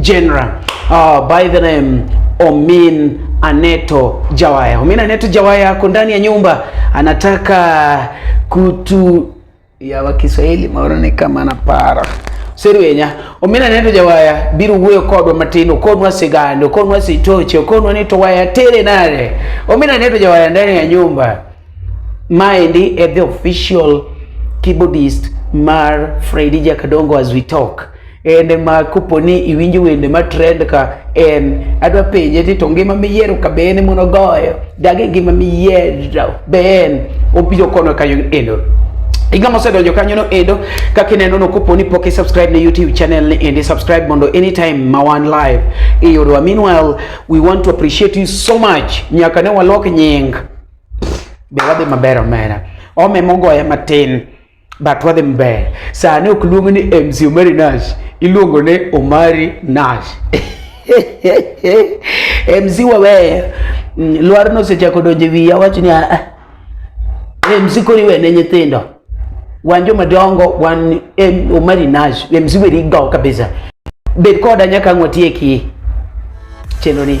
General uh, by the name Omin Aneto Jawaya. Omin Aneto Jawaya ako ndani ya nyumba anataka kutu ya wa Kiswahili maoro ni kama na para serwenya Omin Aneto Jawaya biro wuoyo kodwa matin okonwa sigand okonwa sitoche okonwa ni to waya tere nare Omin Aneto Jawaya ndani ya nyumba maendi e the official keyboardist mar Freddy Jakadongo as we talk wende ma kopo ni iwinjo wende ma trend ka en adwa penje ti to ngima miyiero ka be en mono goyo dagi ngima miyiero be en obiro kono ka eno Iga mosedonjo kanyo no endo kaka ineno no koponi pok subscribe na YouTube channel ni endi subscribe mondo anytime ma wan live iyudwa. Meanwhile, we want to appreciate you so much. Nyaka ne walok nying. Be wadhi maber omera. Ome mogoye matin. but wadhi maber. Sani ok luong ni MC Omari Nash, iluongo ni Omari Nash. MC wawe mm, lwar no sechako donje wiya wach ni ah, ah. MC kori wene nyithindo wan joma dongo wan Omari Nash MC weri go kabisa bed koda nyaka ang' watieki chenro ni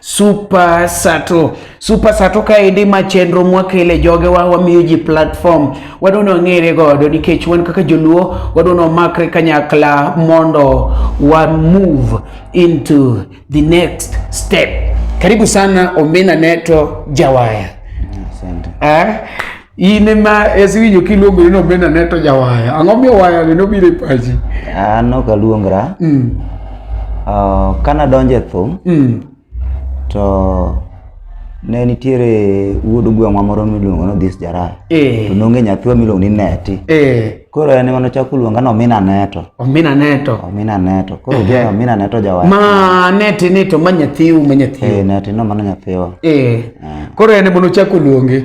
Super Sato. Super Sato kaendi ma chenro mwakele jogewa wamiyo ji platform wadwa ni wang'ere godo nikech wan kaka joluo wadwa ni wamakre kanyakla mondo wa move into the next step. Karibu sana Omena Neto Jawaya. Asante. Eh? in ema esiwinjo kiluongori nobenda ne to jawaya ang'o miyo wayani nobiro e pachi an ok aluongra mm. uh, ka nadonjo e thum mm. to ne nitiere wuod gweng'wa moro miluongo ni Odhis Jaraya e. to nonge nyathwa miluongo ni Neti e. koro en ema nochako luonga ni Omina Neto Omina Neto Omina Neto koro gi Omina Neto jawaya ma Neti ni to ma nyathiu ma nyathiu e, Neti no mano nyathiwa e. koro en ema nochako luonge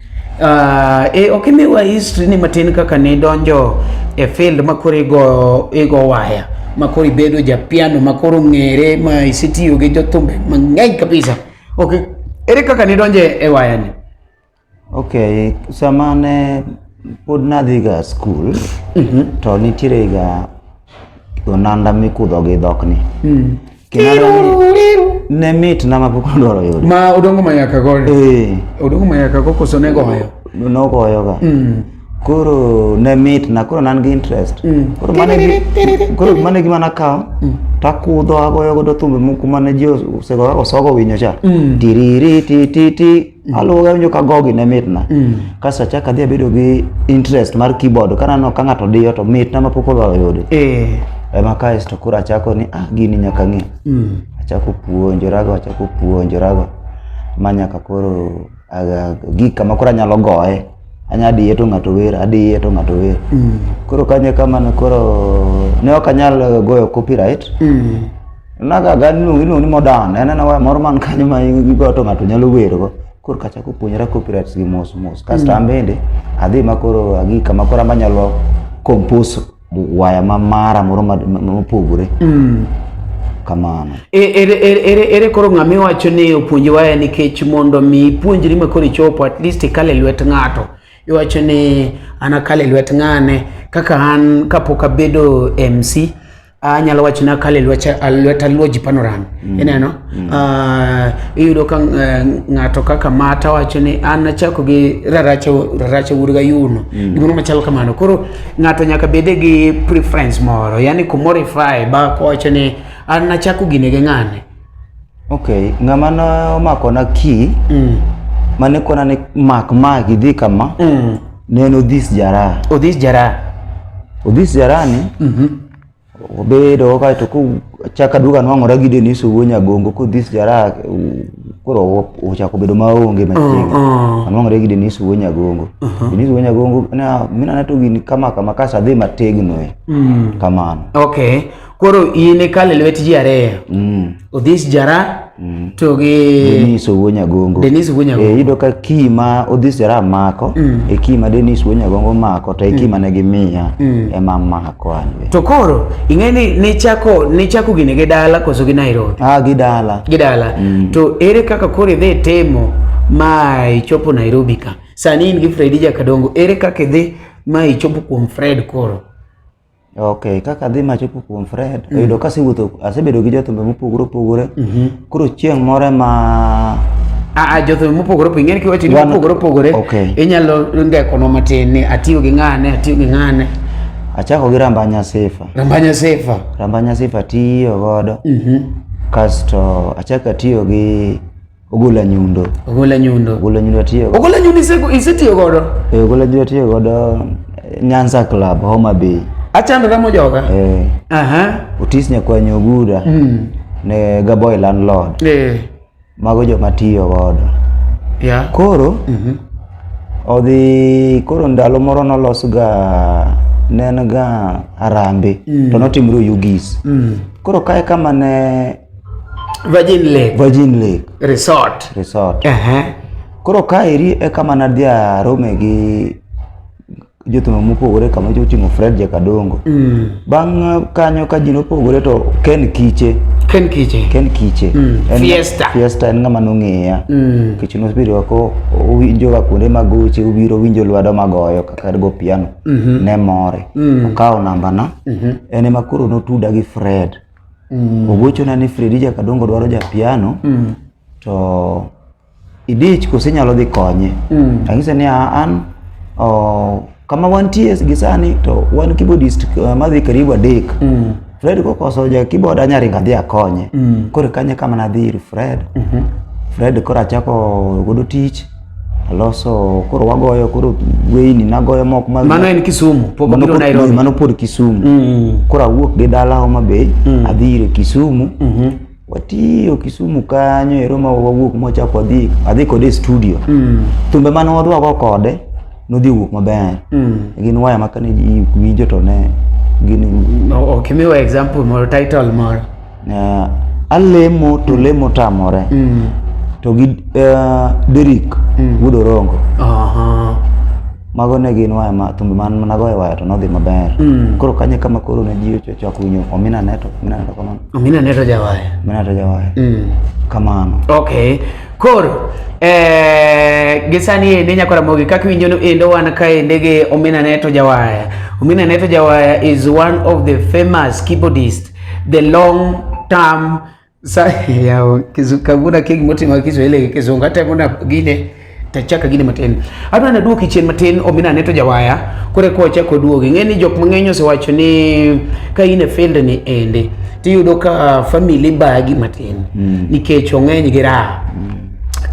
Uh, e, ok imiwa history ni matin kaka ne donjo e field ma koro igo, igo waya ma koro ibedo ja piano ma koro ng'ere ma isetiyo gi jothumbe mang'eny kabisa ok ere kaka ne donjo e waya ni ok sama ne pod nadhiga skul mm -hmm. to nitierega onanda mikudho gi dhokni mm. ne mit na mapok odwaro yude ma odongo mayaka goyo eh. odongo mayaka go koso ne goyo nogoyoga mm. koro ne mit na koro nan gi interest mm. koro mane gima nakawo mm. takudho agoyo godo thumbe moko mane ji osegoyago sogo winyo cha tiriri tititi Mm. aluwoga winjo ka gogi ne mitna mm. kasto achako adhi abedo gi interest mar keyboard kanano ka ng'ato diyo to mitna ma pok olwaro yude eh. ema kaesto koro achako ni ah gini nyaka ng'e mm. achako puonjorago achako puonjorago ma nyaka koro gik kama koro anyalo goye anya adiye to ng'ato wer adiye to ng'ato wer mm. koro kanye kamano koro ne ok anyal goyo copyright mm. naga gani iluongo iluongo ni modern en en waya moro man kanyo ma igoyo to ng'ato nyalo wergo koro kachako puonjora copyrights gi mos mos kasto mm. an bende adhi ma koro agi kama koro amanyalo compose waya ma mara moro mopogore mm. kamano e, ere, ere, ere, ere koro ng'ama iwacho ni opuonji waya nikech mondo mi ipuonjri ma koro ichopo at least ikal e lwet ng'ato iwacho ni an akal e lwet ng'ane kaka an kapok abedo mc anyalo wacho ni akal e lwet aluoji panorami mm. ineno mm. Ah, iyudo ka eh, ng'ato kaka mata wacho ni an achako gi raracha wuod gayuno mm. gimoro machalo kamano koro Ng'ato nyaka bede gi preference moro, yani kumorify ba kowacho ni an nachako gine gi ng'ane. Okay, ng'ama nomakona key Mm. mane kona ni mak ma gidhi kama Mm. ne en Odhis Jaraha. Odhis Jaraha. Odhis Jaraha ni Mhm. obedo kaeto kochaka duogo anwang'ora gi Denise Owuo Nyagongo kodhis jara koro ochako bedo maonge machiegni oh, oh. anwang'ore gi Denise Owuo Nyagongo uh-huh. Denise Owuo Nyagongo na mina nato gini kama kama kasa dhi mategno e hmm. kamano okay koro in ikale lwet ji ariyo mm. Odhis Jara mm. to gi Dennis Owonyagongo. Dennis Owonyagongo. Eh, yudo ka kima Odhis Jara mako mm. e kima Dennis Owonyagongo mako to e mm. kima ne gimiya mm. ema mako an. To koro ing'e ni nichako nichako gini gi dala koso gi Nairobi? Ah, gi dala. Gi dala. Mm. To ere kaka koro idhi timo ma ichopo Nairobi ka? Sani in gi Fredi Jakadongo, ere kaka idhi ma ichopo kuom Fred koro? Okay, kaka adhi machopo kuom Fred, mm. oyudo ka asewuotho, asebedo gi jothumbe mopogore opogore. Mm -hmm. Koro chieng' moro ma a ah, ah, jothum mopogore opogore ing'eni kiwacho ni mopogore opogore inyalo ndekonwa matin ni atiyo gi ng'ane atiyo gi ng'ane achako gi rambanya sifa rambanya sifa rambanya sifa tiyo godo mm -hmm. kasto achako atiyo gi Ogola nyundo. Ogola nyundo. Ogola nyundo atiyo. Ogola nyundo isego isetiyo godo. Eh, ogola nyundo atiyo godo eh, Nyanza Club Homa Bay. Achandra mojoga. Eh. Aha. Otis nyakwanyo ogura. Mm. Ne gaboy landlord. Eh. Mago joma tiyo godo. Yeah. Koro. Mhm. Mm odhi koro ndalo moro nolosga ne en ga arambe mm. to notimre oyugis mm. koro kae kama ne Virgin Lake. Virgin Lake. Resort. Resort. Uh -huh. Koro ka eri e kama nadhi arome gi jothum mopogore kama joting'o Fred Jakadongo. Mm. Bang' uh, kanyo ka ji nopogore to Ken Kiche. Ken Kiche. Ken Kiche. Mm. En Fiesta. Fiesta en ng'ama nong'eya. Mm. Kiche nosebiro ako owinjo ga kuonde mag goche obiro winjo lwedo magoyo kaka go piano. Mm -hmm. Ne more. Mm. Okawo namba na. Mm -hmm. En ema koro notuda gi Fred. mm. ogochona ni Fredija Kadongo dwaro ja piano mm. to idich koso inyalo dhi konye mm. anyise ni an oh, kama wantie gi sani to wan keyboardist uh, madhi karibu adek mm. Fred kokoso ja keyboard anyaringa dhi akonye mm. koro kanye kama nadhi ir Fred mm -hmm. Fred koro achako godo tich Aloso koro wagoyo koro weyni nagoyo mok mag mano en Kisumu pok mano pod, Nairobi mano pod Kisumu mm -hmm. koro awuok gi dala Homa Bay mm -hmm. adhi ire Kisumu mm -hmm. watiyo Kisumu kanyo ero ma wawuok mwachako adhi adhi kode studio mm -hmm. thumbe mane wadwago kode nodhi wuok maber mm -hmm. gin waya makane winjo to ne gin no, okay, miwa example moro title moro Uh, alemo to lemo tamore mm. to gi uh, Derrick mm. Wuod Orongo uh -huh. mago ne gin waya ma thumbe man mana goyo waya to nodhi maber mm. koro kanye kama koro ne ji ochako winyo Omina Neto Omina Neto kamano Omina Neto jawaya Omina Neto jawaya mm. kamano okay koro eh, gi sani ende Nyako Ramogi kaka iwinjo no endo wan kaende gi Omina Neto Jawaya. Omina Neto Jawaya is one of the famous keyboardist the long term yao kizukaguna kegi moti ma Kiswahili kizungu hata kuna gine tachaka gine matin adwa na duoki chien matin omina neto jawaya kore ko chako duogi ngeni jok mang'eny osewacho ni ka in e field ni ende tiyudo ka family bagi matin mm. nikech ong'eny gi raha mm.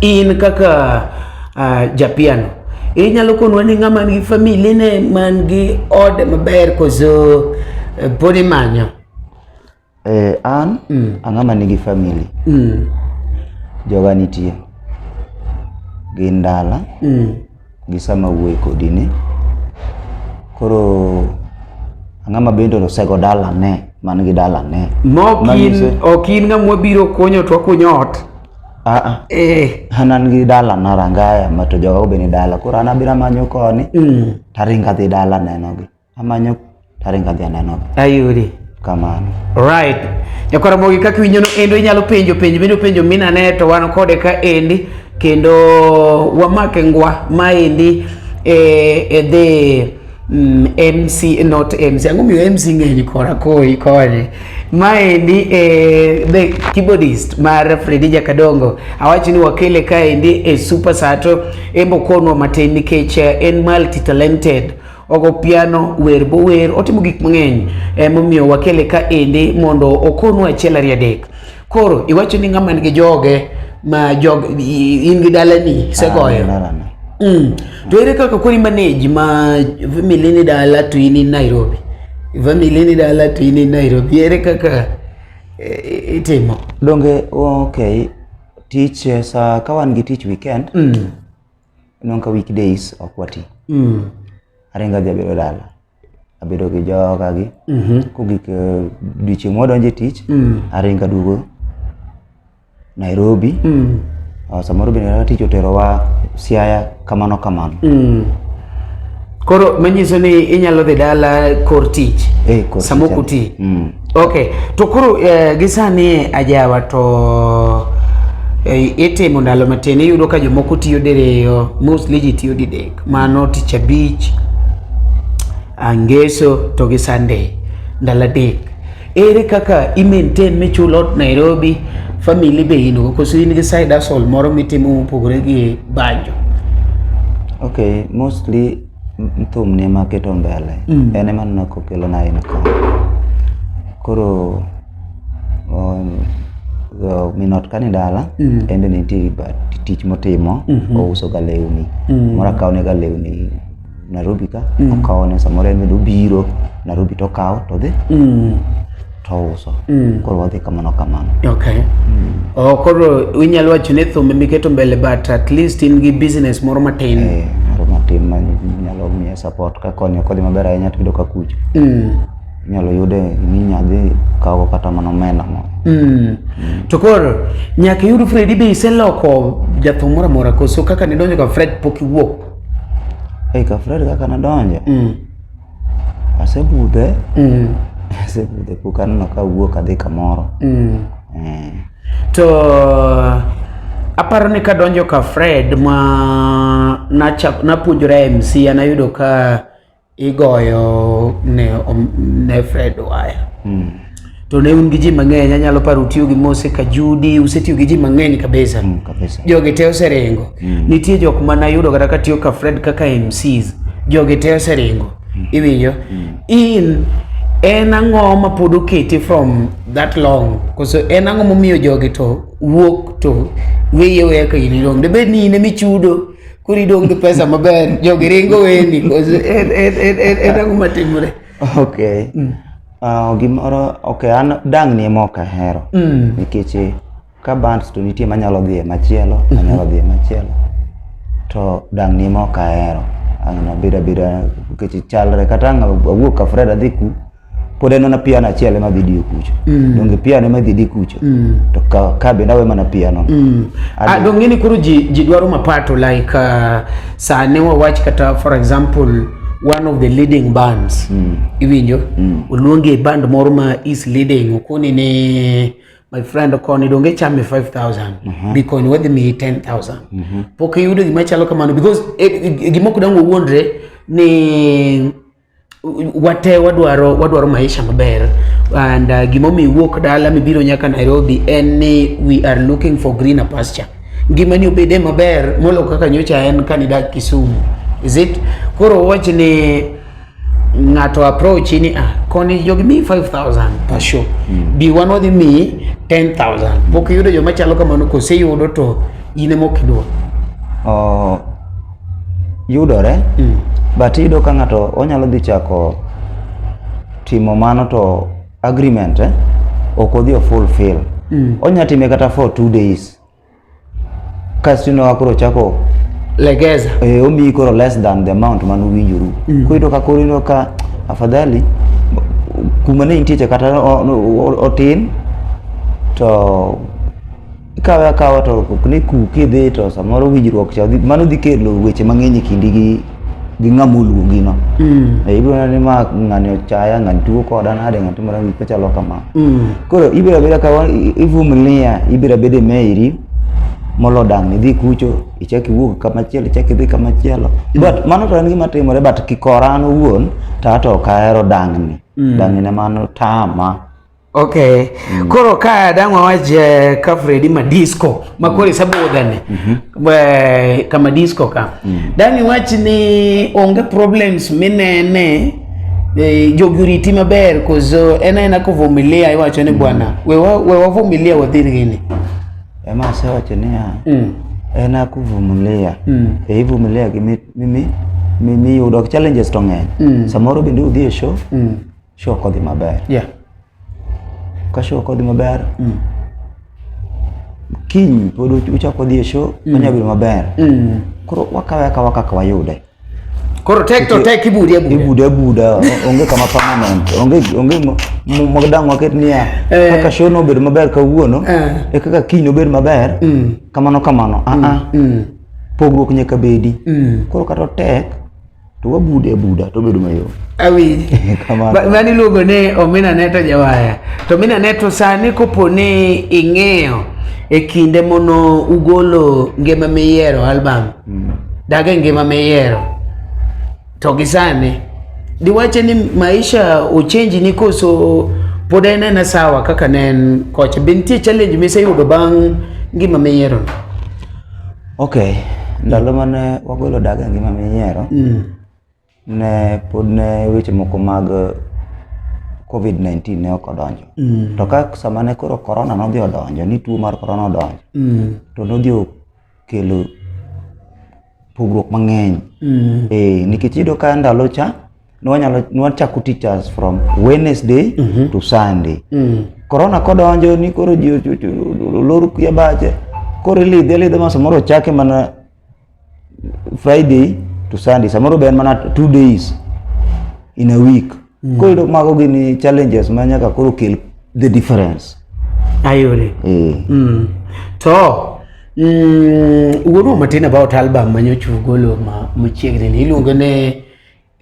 in kaka uh, japiano inyalo konwa ni ng'ama nigi famili ne man gi ode maber koso eh, pod imanyo eh, an mm. ang'ama nigi famili mm. joga nitie gi ndala mm. gi sama wuoyi kodi ni koro ang'ama bende osego dalane man gi dalane mokin ok in ng'ama wabiro konyo to wakunyo ot Ah, ah. Eh. an an gi dala na rangaya ma to joga obe ni dala koro an abira manyo koni mm. taringa dhi dala nenogi amanyo taringa dhi anenogi ayudi kamano right nyakwaramogi kaka winjono endo inyalo penjo penjo bende penjo minane to wan kode ka endi kendo wamake ngwa maendi e, e dhi Mm, MC not MC ang'o miyo MC ng'eny kora koi kore maendi eh, the keyboardist mar Fredi Jakadongo awacho ni wakele kaendi e Super Sato embo konwa matin nikech eh, en multi talented ogo piano wer bo wer otimo gik mang'eny emomiyo wakele kaendi mondo okonwa achiel ariyo adek Koro iwacho ni ng'ama nigi joge ma jog in gi dalani isegoyo. Dalana. Mm. To ere kaka kori manage ma family ni dala to in in Nairobi. Family ni dala to in in Nairobi. Ere kaka eh, itimo? Donge okay tich eh, sa ka wan gi tich weekend Mm. Inong ka weekdays ok wati. Mm. Aringa dhi abedo dala. Abedo gi joga gi. Mm -hmm. Kogik uh, eh, diche mwa donje tich. Mm. Aringa dugo. Nairobi. Mm. Uh, samoro bende na tich otero wa siaya kamano kamano. Mm. Koro manyiso ni inyalo dhi dala kor tich. Eh, kor tich. Samoko ti. Mm. Okay, to koro eh, gisani ajawa to eh, itimo ndalo matin iyudo ka jomoko tiyo diriyo, mostly ji tiyo didek, mano tich abich, angeso to gi Sunday, ndalo adek. Ere kaka i maintain michul ot Nairobi, family be in go koso in gi side hustle moro mitimo mopogore gi banjo? Okay, mostly thum ni ema keto mbele mm. en ema neno kokelo na in ka koro um, minot kani dala mm. en be nitie tich motimo mm -hmm. ouso ga lewni mm. moro akawo ne ga lewni Nairobi ka mm. okawo ne samoro en bende obiro Nairobi to okawo to dhi mm. to uso mm. koro wadhi kamano kamano okay. mm. oh, koro inyalo wacho ni thumbe miketo mbele but at least in gi business moro matin eh, moro matin manyalo miye support ka konyo kodhi maber ahinya to yudo ka kucho mm. inyalo yude minyadhi kawo kata mana omenda moro mm. mm. to koro nyaka iyud Fredi be iseloko jathum moro amora koso kaka nidonjo ka Fred pok iwuok Ei, ka Fred kaka nadonjo mm. Asebudhe. Mm. Asebudhe pok aneno ka wuok adhi kamoro. Mm. Eh. To aparo ni kadonjo ka Fred ma nachak napuonjora MC anayudo ka igoyo ne, ne Fred waya. Mm. to ne un gi ji mang'eny anyalo paro utiyo gi mose kajudi usetiyo gi ji mang'eny kabisa Mm, kabisa. jogi te oseringo Mm. nitie jok ma nayudo kata katiyo ka fred kaka mcs jogi te oseringo iwinjo in en ang'o ma pod oketi from that long koso en ang'o momiyo jogi to wuok to weye weya ka in idong' debed ni in ema ichudo koro idong' gi pesa maber jogi ringo weni koso en- en- en- en- en ang'o matimore Okay. Uh, gimoro ok an dang' ni ema ok ahero mm. nikech eh, ka bands to nitie manyalo dhi e machielo mm -hmm. manyalo dhi e machielo to dang' ni ema ok ahero an abeda beda nikech chalre kata ang' awuok ka Fred adhi ku pod en mana piano achiel ema dhi diyo kucho mm. donge piano ema dhi di kucho mm. to ka, ka bende awe mana piano mm. Ah, donge ni koro ji, ji dwaro mapato like uh, saa ne wawach kata for example one of the leading bands mm. iwinjo mm. oluongi e band moro ma is leading okoni ni my friend okoni donge chame 5000 mm -hmm. bikoni wadhi miyi 10000 mm -hmm. pok iyudo gima chalo kamano because eh, eh, gimoko dang owuondre ni wate wadwaro wadwaro maisha maber and uh, gimomiyo iwuok dala mibiro nyaka Nairobi en ni we are looking for greener pasture ngimani obede maber molo kaka nyocha en kani dak Kisumu is it koro wach ni ng'ato approach ni ah koni jogi mi 5000 per show mm. bi wan wadhi mi 10000 pok yudo joma chalo kamano kose yudo to in emokidwa oh yudore mm. but iyudo ka ng'ato onyalo dhi chako timo mano to agreement eh, ok odhi o fulfill mm. onya time kata for two days kasto inowa koro chako legeza eh, omiyi koro less than the amount mane uwinjoru mm. koro iyudo ka koro ino ka afadhali kuma ne intie cha kata otin to ikawe akawa to ok ne kuki idhi to samoro winjruok cha dhi- mano dhi kelo weche mang'eny e kindi gi gi ng'ama oluongi no Mm. Eh, ibiro neno ni ma ng'ani ochaya ng'ani tuo koda nade ng'ani timore gik machalo kama Mm. koro ibiro abeda ka wa- i- ivumilia ibiro abeda e meiri molo dang' idhi kucho ichak iwuog kamachielo ichak idhi kamachielo but mano to en gima timore but kikora an owuon to ato ok ahero dang'ni dang'ni ne mano tama Okay. Mm. Koro ka dang' wawach eh, ka Fredi ma disco ma koro isebudheni mm -hmm. Eh, kama disco ka mm. dang' iwach ni onge problems minene eh, jogi oriti maber koso en aena kovumilia iwacho ni mm. bwana we wavumilia wadhir gini ema asewacho niya mm. en akuvumilia mm. e ivumilia gi mimi mimi yudo challenges to ng'eny mm. samoro bende udhi e show mm. Show kodhi maber. Yeah. Ka show kodhi maber. Mm. Kiny pod uchako dhi e show, mm. onya bedo maber. Mm. Koro wakawe akawa kaka wayude. Koro tek to tek ibude abuda. Ibude abuda, onge kama permanent. Onge onge mogdang waket niya. Eh. Kaka show no bedo maber kawuono, eh. e kaka kiny no bedo maber. Mm. Kamano kamano. Ah ah. Mm. Pogruok nyaka bedi. Mm. Koro kata tek to wabude abuda to bedo mayom awinj mani luongo ni omina neto jawaya to omina neto sani kopo ni ing'eyo e kinde mono ugolo ngima miyiero album mm. dage ngima miyiero to gi sani diwache ni maisha ochenji ni koso pod en ena sawa kaka ne en kocha be nitie challenge miseyudo bang' ngima miyiero no Ok, ndalo mane wagolo daga ngima minyiero, mm. ne pod ne weche moko mag COVID-19 ne ok odonjo. Mm. To ka sama ne koro korona nodhi odonjo, ni tuo mar korona odonjo, mm. to nodhi okelo pogruok mang'eny. Mm. Eh, nikech iyudo ka ndalo cha, nwanyalo nwachako teachers from Wednesday mm -hmm. to Sunday mm. Corona kodonjo ni koro ji lor kuya bache koro ilidhe lidhe ma samoro chake mana Friday to Sunday samoro ben mana two days in a week mm. koro yudo mago gini challenges ma nyaka koro kel the difference ayore mm. mm. to mm, wuoru matin about album manyochugolo ma machiegni ni iluongo ne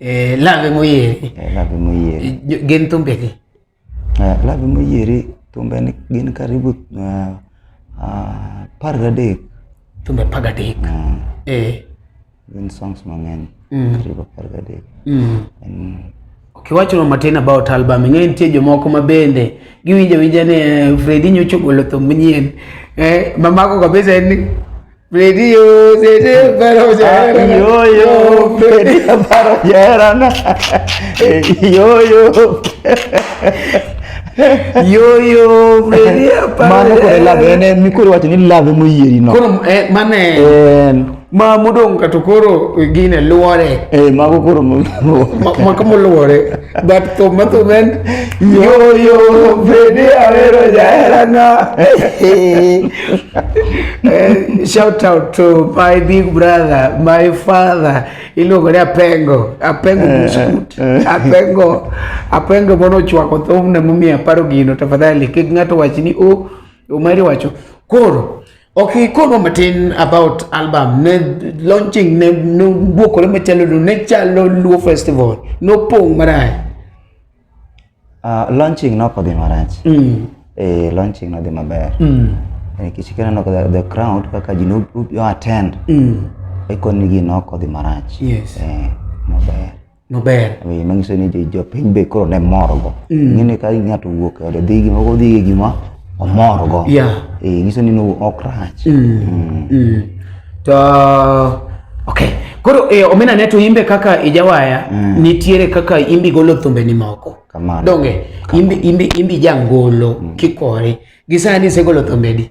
Eh, love moyieri. Eh, love moyieri. Eh, gin thumbe gi. Eh, love moyieri thumbe ni gin karibu uh, uh, par gadek. Thumbe par gadek. Uh, eh. Gin songs mang'eny. Mm. Karibu par gadek. Mm. And, kiwachono matin about album ing'e nitie jomoko ma bende giwinjo winja ni eh, Fredi nyocha ogolo thum manyien eh, mamako kabisa en ni Video seni parojera. Yo yo beni parojera. Yo yo. Yo yo beni parojera. Mana kore lave ne mi kore wati ni lave mo yeri no. Koro eh mane. Eh ma mudong' kato koro gine luore. Eh mago koro mo. Ma kamo luore. But to Matumen, yo, yo, Freddy Avero Jaerana. Eh, shout out to my big brother, my father. Iluongo ni Apengo, Apengo eh, Buskut, eh, Apengo, Apengo mono chwako thum na mumi aparo gino, tafadhali kik ng'ato wach ni o, oh, umari wacho. Koro, Okay, kono matin about album ne launching ne no bwoko le machalo no ne chalo Luo Festival no pong marach. Uh, launching no kodhi marach. Mm. Eh, launching no dhi maber. Mm. Eh, kichikana no the, the crowd kaka ji no attend. Mm. Eko nigi no kodhi marach. Yes. Eh, maber. maber eh, manyiso ni jopiny be koro ne morgo mm. ng'eni ka ng'ato wuok e ode dhi gima odhi e gima omorgo eh, nyiso ni ok rach mm. Mm. to ok koro eh, omena ne to imbe kaka ijawaya nitiere kaka imbi golo thumbe ni moko donge imbi imbi imbi jangolo kikore gisani isegolo thumbedi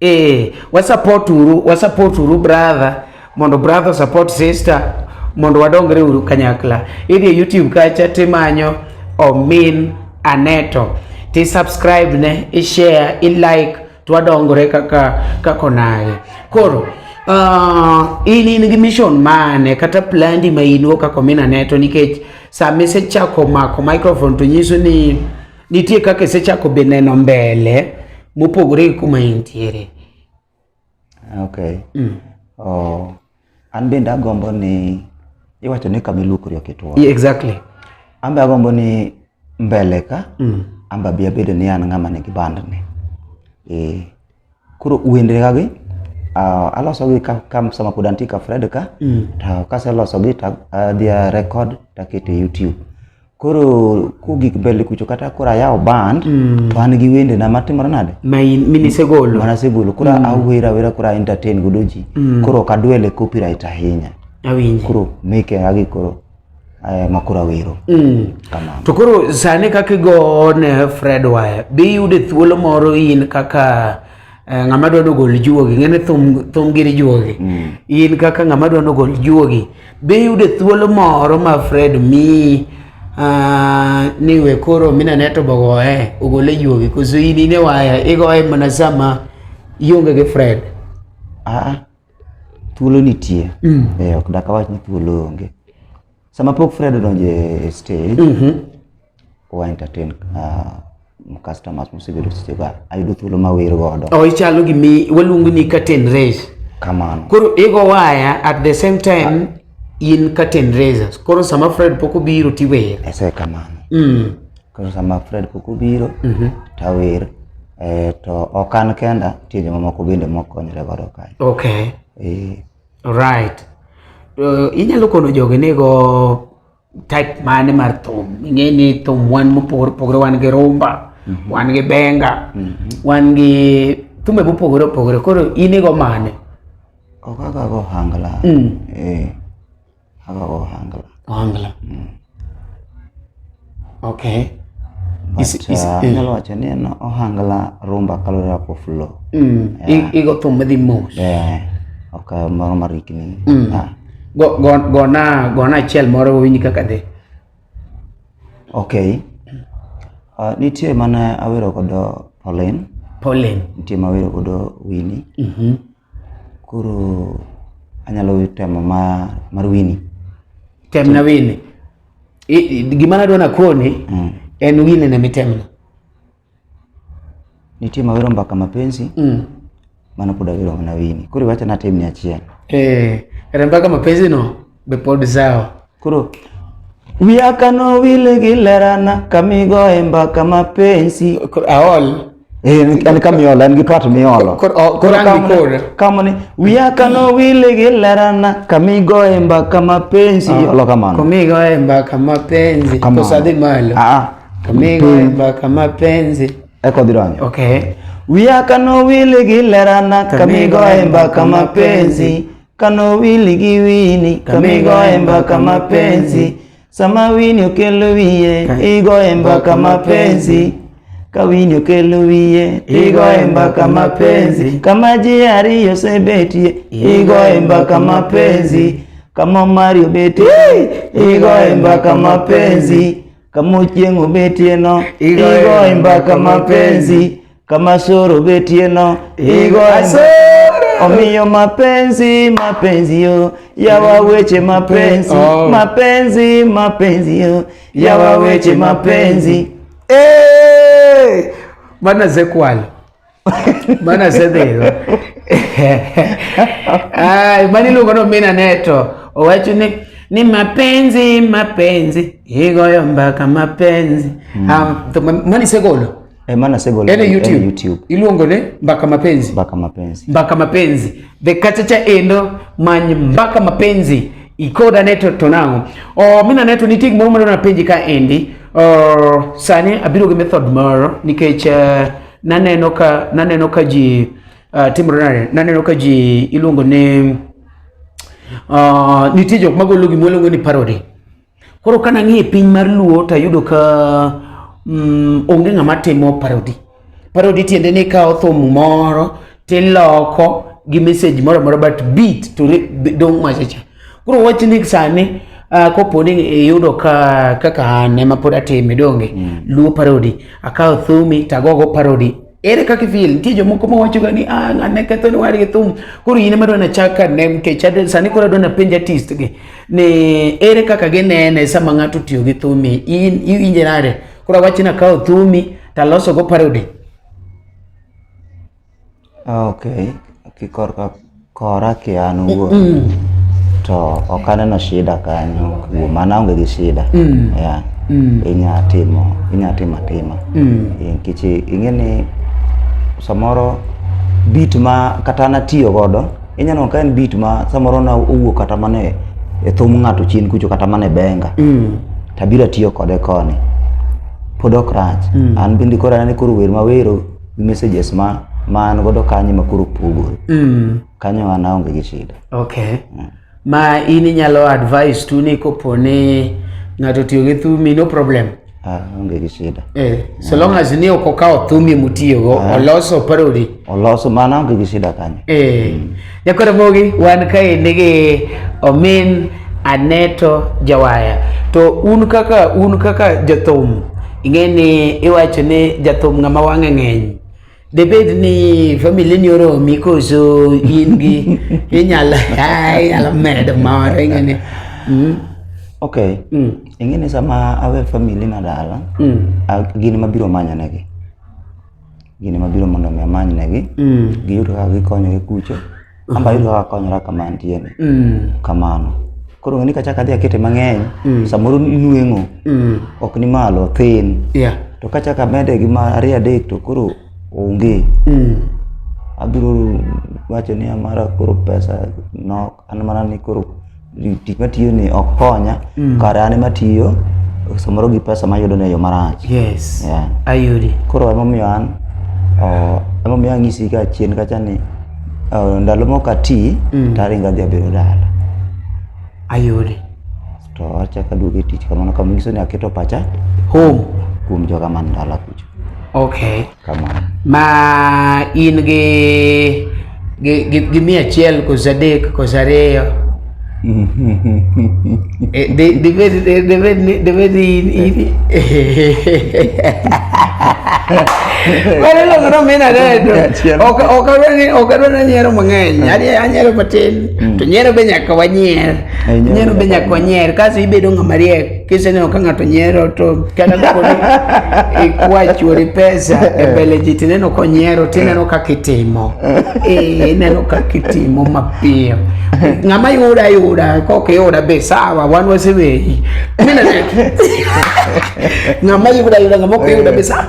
Eh, wa support uru, wa support uru brother, mondo brother support sister, mondo wadongre uru kanyakla. Idhi e YouTube kacha timanyo Omin Aneto. Ti subscribe ne, i share, i like, twadongore kaka kako naye. Koro uh, in in gi mission mane kata plandi ma in go kaka Omin Aneto nikech sama isechako mako microphone to nyiso ni Nitie kaka isechako be neno mbele mopogore gi kuma intiere. Okay. Mm. Oh, an bende agombo ni iwacho ni kama iluokori ok itwo. Yeah, exactly. An be agombo ni mbele ka mm. an be abedo ni an ng'ama nigi bandni. Eh. Koro wendre ga gi uh, aloso gi ka, ka sama pod antie ka Fred ka mm. to kaseloso gi to adhi uh, record taketo e YouTube koro kugik mbele kucho kata koro ayawo band mm. to an gi wende na matimore nade minisegolo mana segolo koro mm. awera awera koro entertain godo ji mm. koro ok adwele copyright ahinya awinji koro meke agi koro eh, makura wero mm. kamano to koro sani kaka igo ne fred waya bi yude thuolo moro in kaka eh, ng'ama dwa nogol juogi ng'ene thum, thum giri juogi mm. in kaka ng'ama dwa nogol juogi bi yude thuolo moro ma fred mi uh, ni we koro minane to bogoye ogole juogi koso in ine waya igoye mana sama ionge gi fred ah. Thuolo nitie. Mm. Eh, ok dak awach ni thuolo onge. Sama pok Fred odonjo e stage, mm -hmm. wa entertain uh, customers mosebedo seche ga ayudo thuolo ma wir godo. Oh, ichalo gi mi waluongo ni curtain raise. Kamano. Koro igo waya at the same time ah. in curtain raisers. Koro sama Fred pok obiro tiwer. Ese kamano. Mm. Koro sama Fred koko biro, Mhm. tawer. Eh, to ok an kenda, nitie jomamoko bende mokonyre godo kae. Okay. Eh, Right. Uh, inyalo kono jogi ni go type mane mar thum. Ing'e ni thum wan mopogore opogore wan gi rumba, wan gi benga, wan gi thume mopogore opogore. Koro in igo mane? ok kaka go hangla. Mm. Eh, ohangla mm. okay uh, nyalo wacho ni en ohangla rumba kalore ako flow mm. igo thum madhi mos ok moro marikni mm. ah. gona gona achiel moro wawinj kaka dhi okay uh, nitie mana awero kodo Pauline Pauline nitie ma awero kodo Winnie mm -hmm. Koro anyalo temo ma mar wini. Tem na wini. Gima nadwa nakoni mm. en wini ne mitemna. Nitie mawero mbaka mapenzi mm. mana pod awero na wini. Koro iwacho natem ni achiel. Eh, kata mbaka mapenzi no. be pod sawa. Koro wiya kano wile gi lerana kamigo e mbaka mapenzi aol Eh, en ka miolo en gi twat miolo kama ni wiya kano wile gi lerana kamigo e mbaka mapenzi ah, iolo kamano kamigo e mbaka mapenzi to sadhi malo ah, ah. kamigo e mbaka mapenzi eko dhi donjo okay wiya kano wile gi lerana kamigo e mbaka mapenzi Kano wili gi wini kamigoye mbaka mapenzi sama wini okelo wiye igoye mbaka mapenzi ka wini okelo wiye igoye mbaka mapenzi kama ji ariyo osebetie igoye mbaka mapenzi kama omari obetie igoye mbaka mapenzi kama ochieng' obetieno igoye mbaka mapenzi kama soro betie no igo omiyo mapenzi mapenzi yo yawa weche mapenzi oh. mapenzi mapenzi yo yawa weche mapenzi hey! bana zekwalo bana zedhego ay bana iluongo no mina neto owacho ni ni mapenzi mapenzi igoyo mbaka mapenzi mm. um, ah, mani segolo Eh, maana sasa hivi ene YouTube, YouTube. Iluongo ne mbaka mapenzi. Mbaka mapenzi. Mbaka mapenzi. The kachacha endo many mbaka mapenzi. Ikoda neto tonango. Oh, mina neto ni tig moro na penji ka endi. Oh, sani abiro gi method moro nikech uh, naneno ka naneno ka ji uh, timore nade? Naneno ka ji iluongo ne uh, nitie jok magolo gimoro iluongo ni parody. Koro ka nang'iye piny mar luo to ayudo ka mm, onge ng'ama timo parody. Parody tiende ni kawo thum moro tiloko gi message moro moro but beat to dong' machacha. Koro wach ni sani uh, kopo ni iyudo ka kaka an ema pod atime donge mm. luo parody akawo thumi tagogo parody ere kaka ifeel nitie jomoko ma wachoga ni ah ng'ane ketho ni wadgi thum koro in ema dwana chak ka ne nikech ade sani koro adwana penj artist gi ni ere kaka ginene sama ng'ato tiyo gi thumi in iwinje nade koro awach ni akawo thumi to aloso go parody ah, okay kikorka Kora ki an wuon mm. to ok aneno shida kanyo kuom an aonge gi shida mm. yeah. mm. inya timo inya timo atima mm. nikech ing'e ni samoro bit ma kata natiyo godo inya neno ka en bit ma samoro na owuok kata mana e thum ng'ato chien kucho kata mana e benga mm. tabiro tiyo kode koni pod ok rach mm. an bende koro anene koro wer mawero gi messages ma ma an godo kanyo ma koro pogore mm. kanyo an aonge gi shida okay mm. ma in inyalo advice tu ni kopo ni ng'ato tiyo gi thumi no problem ah, onge gi shida eh, so long as ni ok okawo thumi mutiyogo ah. oloso parodi oloso mana onge gi shida kanyo eh. mm. Jakoromogi wan kaendi gi omin Aneto Jawaya. To un kaka un kaka jathum ing'e ni iwacho ni jathum ng'ama wang'e ng'eny. Debed ni famili ni oromi koso in gi inyalo inyalo medo moro ing'e ni. Mm. Okay. Mm. Ing'e ni sama awe famili na dala, mm. gin mabiro manyanegi. gini mabiro mondo mi amany negi mm. giyud kaka gikonyore kucho mm. amba yud kaka konyora kama antieni mm. kamano koro ng'eni kachak adhi akete mang'eny mm. samoro inweng'o mm. ok ni malo thin yeah. to kachak amede gi ma ariyo adek to koro onge mm. abiro wacho ni amara koro pesa nok an mana ni koro tich matiyo ni ok konya mm. kare an ema tiyo samoro gi pesa mayudo ne yo marach yes yeah. ayudi koro emomiyo an uh, emomiyo ang'isi ka chien kacha ni uh, ndalo mok ati mm. taringo adhi abiro dala ayudi to achaka duogo e tich kamano kama nyiso ni aketo pacha home kuom joga man dala kucho okay kamano ma in gi gi, gi, gi mia achiel koso adek koso ariyo Eh, di- dibed di- dibed ni- dibed ni in- in- Wale logo no mina dedo. Achiel. Ok ok adwa ni ok adwa ni nyiero mang'eny. Ani anyiero matin. To nyiero be nyaka wanyier. Ai, nyiero Nyiero be nyaka nyaka wanyier. Kaso ibedo ng'ama riek. Kiseneno ka ng'ato nyiero to kata kaponi ikwa chuori pesa e mbele ji tineno konyiero tineno ka kitimo eh, ineno ka kitimo mapiyo ng'ama yuda yuda kok yuda be sawa wan waseweyi ng'ama yuda yuda ng'ama ok yuda be sawa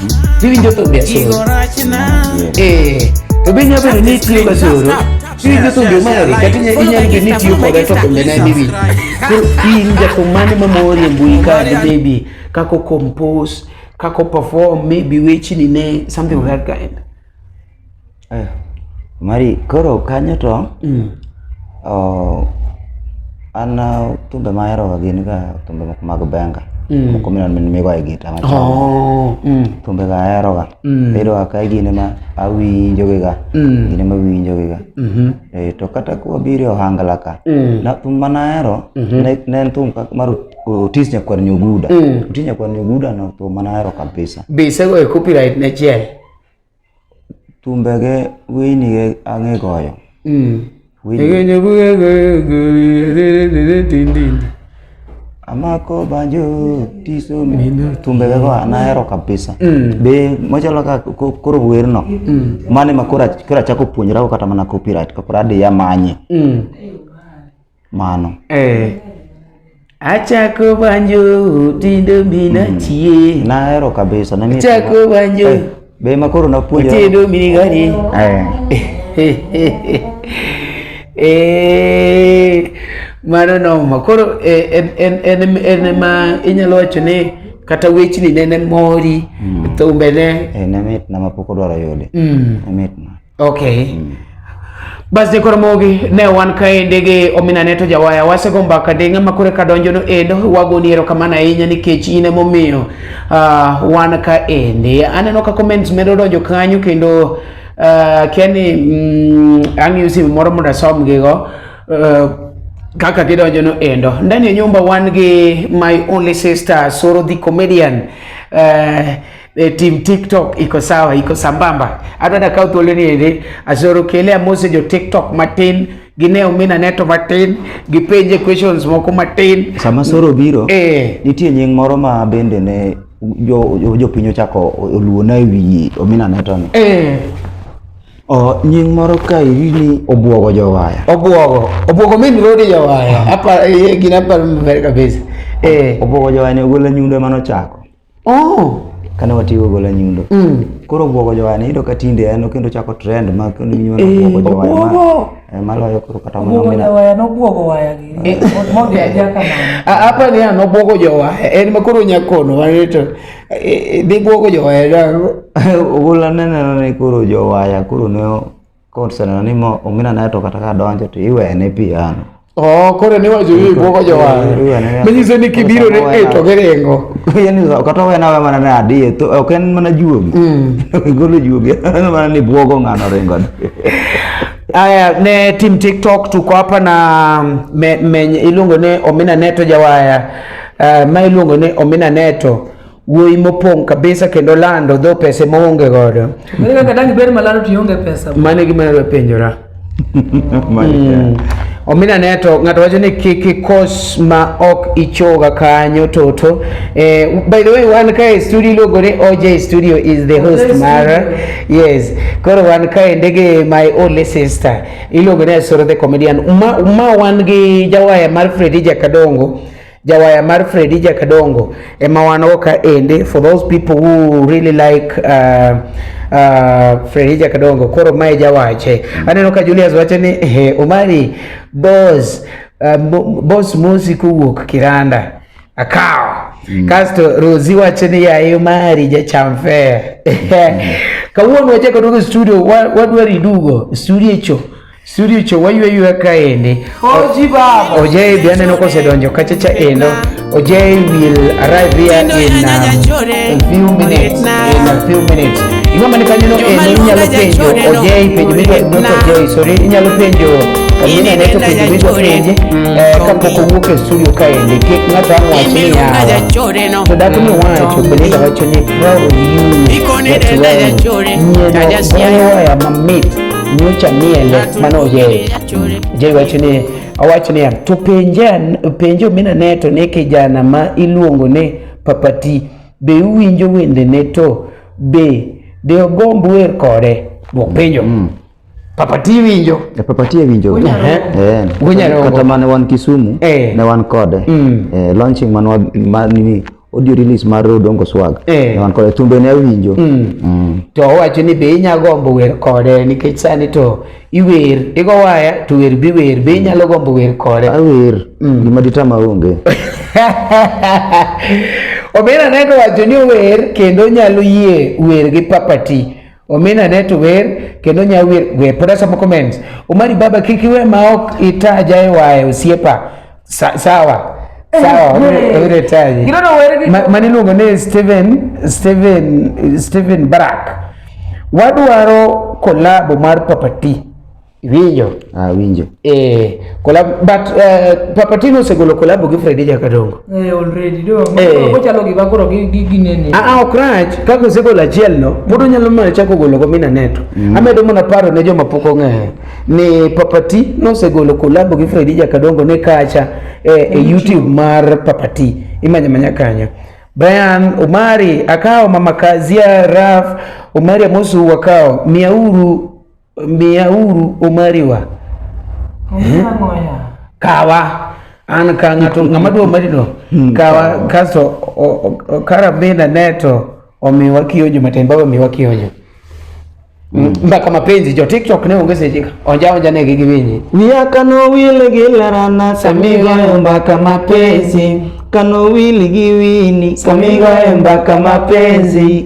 Iwinjo thumbe asoro. Eh, to be nyalo bedo ni itiyo ga soro. Iwinjo thumbe mari kata inyalo inyalo bedo ni itiyo koda to thumbe ne ni winjo. Koro in jathum mane ma mori e mbui ka de maybe kako compose, kako perform, maybe wechni ne something of that kind. Eh, mari koro kanyo to mm. oh, an uh, thumbe ma aheroga gin ga thumbe moko mag benga mm. moko mineno min migoye gita machon oh, mm. thumbe ga aheroga mm. bedoga ka gine ma awinjogiga mm. gine ma winjogiga mm -hmm. e, eh, to kata kwabiro e ohangla ka mm. na thum mana ahero mm -hmm. ne, ne en thum mar otis nyakwar nyuguda mm. otis nyakwar nyuguda no thum mana ahero kabisa be isego e copyright ne chiel tumbege wĩinige ang'ĩgoyo amako banjo tiso tumbege go anahero kabisa mm. be machalo ka koro werno mm. mane ma koro achako puonjrago kata mana copyright kapod adhi amanye mm. mano eh achako banjo tindo mina hmm. chie nahero kabisa na achako banjo eh, be ma koro napuonjo tindo mini gani eh eh mano noma koro eh, en en en en ma inyalo wacho ni kata wechni nene mori mm. thumbene eh, ne mitna mapok odwaro yude mm. ne mitna Okay. Mm. Bas jekoro mogi ne wan kaende gi omina neto jawaya wasego mbaka de ng'ama kore ka donjo no endo wagoni ero kamana ahinya nikech in ema omiyo uh, wan kaende aneno ka comments medo donjo kanyo kendo uh, ah, keni mm, ang'iyo simu moro mondo asom gigo uh, kaka gidonjo no endo ndani ya nyumba wan gi my only sister Soro the comedian uh, e, team TikTok iko sawa, iko sambamba. Adwa da kaw thuolo ni eri asoro kele amose jo TikTok matin gine omina neto matin gipenje questions moko matin. Sama soro biro eh, nitie nying moro ma bende ne jo jo- jopiny ochako oluona e wi omina neto ni. eh, O, nying moro ka iri ni obwogo jowaya. obwogo obwogo min rodi jawaya apa eh, gina par maber kabisa eh, Obwogo jowaya ni ogolo nyundo mane ochako. Oh. Kane watigo gola nyundo. Mm. Koro bwogo jowani iyudo ka tinde en kendo chako trend ma kendo nyuwa na bwogo eh, jowani. Obwogo. Eh, maloyo koro kata mana mina. Obwogo waya no bwogo waya gi. Eh. Mondi aja kama. Apa ni ano bwogo jowaya. En ma koro nyakono wareto. Dhi bwogo jowaya dango. Ogola nene ne koro jowaya koro ne Koseno ni mo omina na to kata ka donjo to iwene pi ano. Oh, koro ne wacho yie gwoko jowar. Manyiso ni kibiro ne e to giringo. Yaani kata wena we mana na adie to ok en mana juogi. Mm. Golo juogi en mana ni bwogo ng'ano ringo. Aya ne team TikTok tuko hapa na me, me, iluongo ne Omina Neto Jawaya. Uh, ma iluongo ne Omina Neto. wuoyi mopong' kabisa kendo lando dho pese moonge godo mane gima yaro penjora mm. omina ne to ng'ato wacho ni kik ikos ma ok ichoga kanyo toto eh, by the way wan kae studio iluongo ni oj studio is the host mara yes koro wan kae ndege my only sister iluongo ni asoro the comedian ma, ma wan gi jawaya mar fredi jakadongo jawaya mar Freddy Jakadongo ema wanogo ka ende for those people who really like uh, uh, Freddy Jakadongo koro mae jawache mm. aneno ka Julius wacho ni hey, Omari boss uh, boss mosi kowuok Kiranda akawo mm. kasto Rozi wacho ni yaye Omari jacham fare mm. kawuono wachako duogo studio wadwari dugo studio cho Suricho wayweyo kaendi. Oji baba. Ojay be aneno kosedonjo kacha cha endo. Ojay will arrive here in um, a few minutes. In a few minutes. Ing'ama mani kanyo no endo inyalo penjo Ojay penjo midwa not Ojay sorry inyalo penjo Amina neto penjo midwa penje mm. eh, kapok owuok e studio kaendi kik ng'ato ang' wach ni yawa to dak ni wacho Belinda wacho ni proud of you that well nyieno goyo waya mamit nyocha miele mane oyeye je wacho ni owacho niya to penja penjo minane to ne kijana ma iluongo ni papati be uwinjo wendene to be de ogomb wer kode bopenjo mm. papati winjo e papati e winjo eh gunyaro kata mane wan Kisumu eh. ne wan kode mm. eh launching mane mani audio release mar Odongo Swag eh. wan kode thumbe ne awinjo mm. mm. to owacho ni be inya gombo wer kode nikech sani to iwer igo waya to wer bi wer be inyalo gombo wer kode awer mm. gima ditama onge Obina neno wacho ni ower kendo nyalo yie wer gi papati Omina ne to wer kendo nya wer wer pod asomo comments. Omari baba kiki we ma ok itaja e wae osiepa. Sa, sawa. Sawa, ure taji. Gino no wer gi. Mani luongo ni Steven Steven Steven Barak. Wadwaro kolabo mar papati. Winjo. Ah, winjo. Eh, collab but uh, Papatino osegolo collab gi Freddy Jakadongo. Eh, already do. Eh. Ko chalo gi bakoro gi gi ginene. Ah, ah ok rach. Ka ko segolo achiel no, pod onyalo mana chako golo go mina neto. Mm. Amedo mana paro ne joma pok ong'eyo ni Papati nosegolo collab gi Freddy Jakadongo ne kacha eh, e YouTube mar Papati. Imanya manya kanyo. Brian Omari akao mama Kazia Raf Omari Amosu wakao miauru Miyauru omariwa. Kawa an ka ng'ato ng'ama dwa omarino hmm. kawa kasto karabina neto omiwa kionjo matin baba omiwa kionjo hmm. mbaka mapenzi jo tiktok ne onge seche onja onja ne gi giwinyi wiya kano wile gi lerana samigoyo mbaka mapenzi kano wili gi wini samigoyo mbaka mapenzi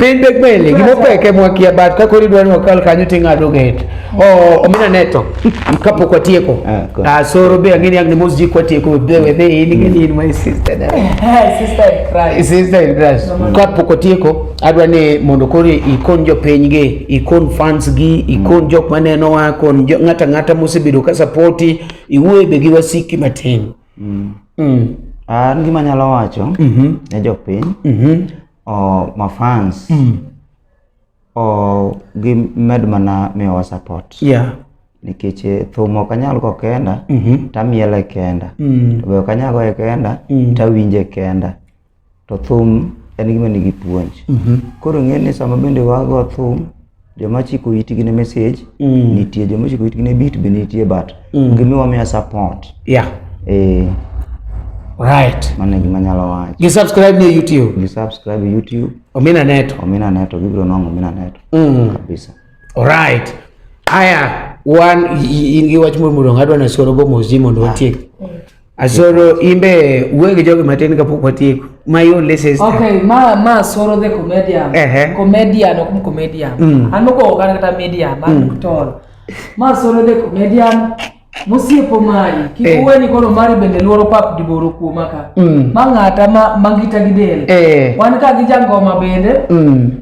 piny tek meli gima peke mwakia bat ka kori dwani wakal kanyo ting'ado get omina neto kapok watieko ah, asoro ah, be ang'eni ang' ni mos jik watieko wedhe in ing'eni in my sister eh, eh, sister in Christ kapok watieko adwa ni mondo koro ikon jopiny gi ikon fans gi ikon jok maneno wa kon ng'ata ng'ata mosebedo ka sapoti iwuoye be gi wasiki matin Mm. Mm. An gima nyalo wacho mm -hmm. ne jopiny mm -hmm. o mafans mm. o gimed mana miyowa support yeah. nikech eh, thum ok anyal go kenda mm -hmm. tamiele kenda mm. to be ok anyal goye kenda mm. tawinje kenda to thum en gima nigi puonj mhm. koro ng'e ni sama bende wago thum joma chiko itgi ne message mm. nitie joma chiko itgi ne beat be nitie but mm. gimiwa miya support yeah eh right mane gima nyalo wacho gi subscribe ne youtube gi subscribe youtube omina neto omina neto gibiro nongo omina neto mm. kabisa alright aya wan in gi wach moro moro ngadwa na soro go mozi mondo watiek mm. Asoro imbe wuoyo gi jogi matin kapok watieko. My only sister. Okay, ma ma Asoro the comedian. Uh -huh. Comedian ok comedian. Mm. An moko ogana kata media ma mm. tol. Ma Asoro the comedian mosiepo mari kik eh. uweni koro mari bende luoro pap diboro kuoma ka mm. ma ng'ata ma, ma ngita gi del eh. wan ka gi jangoma bende mm.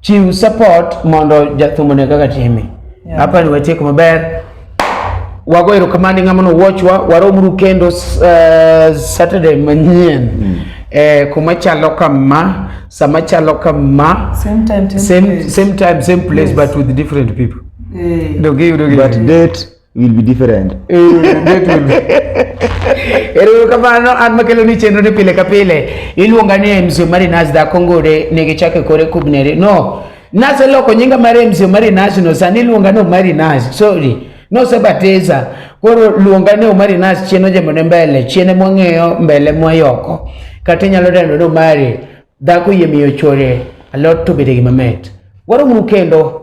chiw support mondo jathum one kaka time Yeah. hapa ni watieko maber wago erokamano ni ng'ama nowuochwa waromuru kendo uh, saturday manyien eh, kuma chalo kama sama chalo kama Same time, same same, place. same time same place but with different people Eh. dogiyudo but date will be different. Ero kamano an makelo ni chenro ni pile ka pile iluonga ni MC Omari Nas da Kongore ne gichake kore kubnere. No. Nase loko nyinga mar MC Omari Nas no sani iluonga ni Omari Nas. Sorry. No se bateza. Koro luonga ni Omari Nas chieno jemo ne mbele, chiene mwang'eyo mbele mwayoko. Kata inyalo dendo ni Omari dhako yie miyo chore alot to bede gi mamet. Waro muru kendo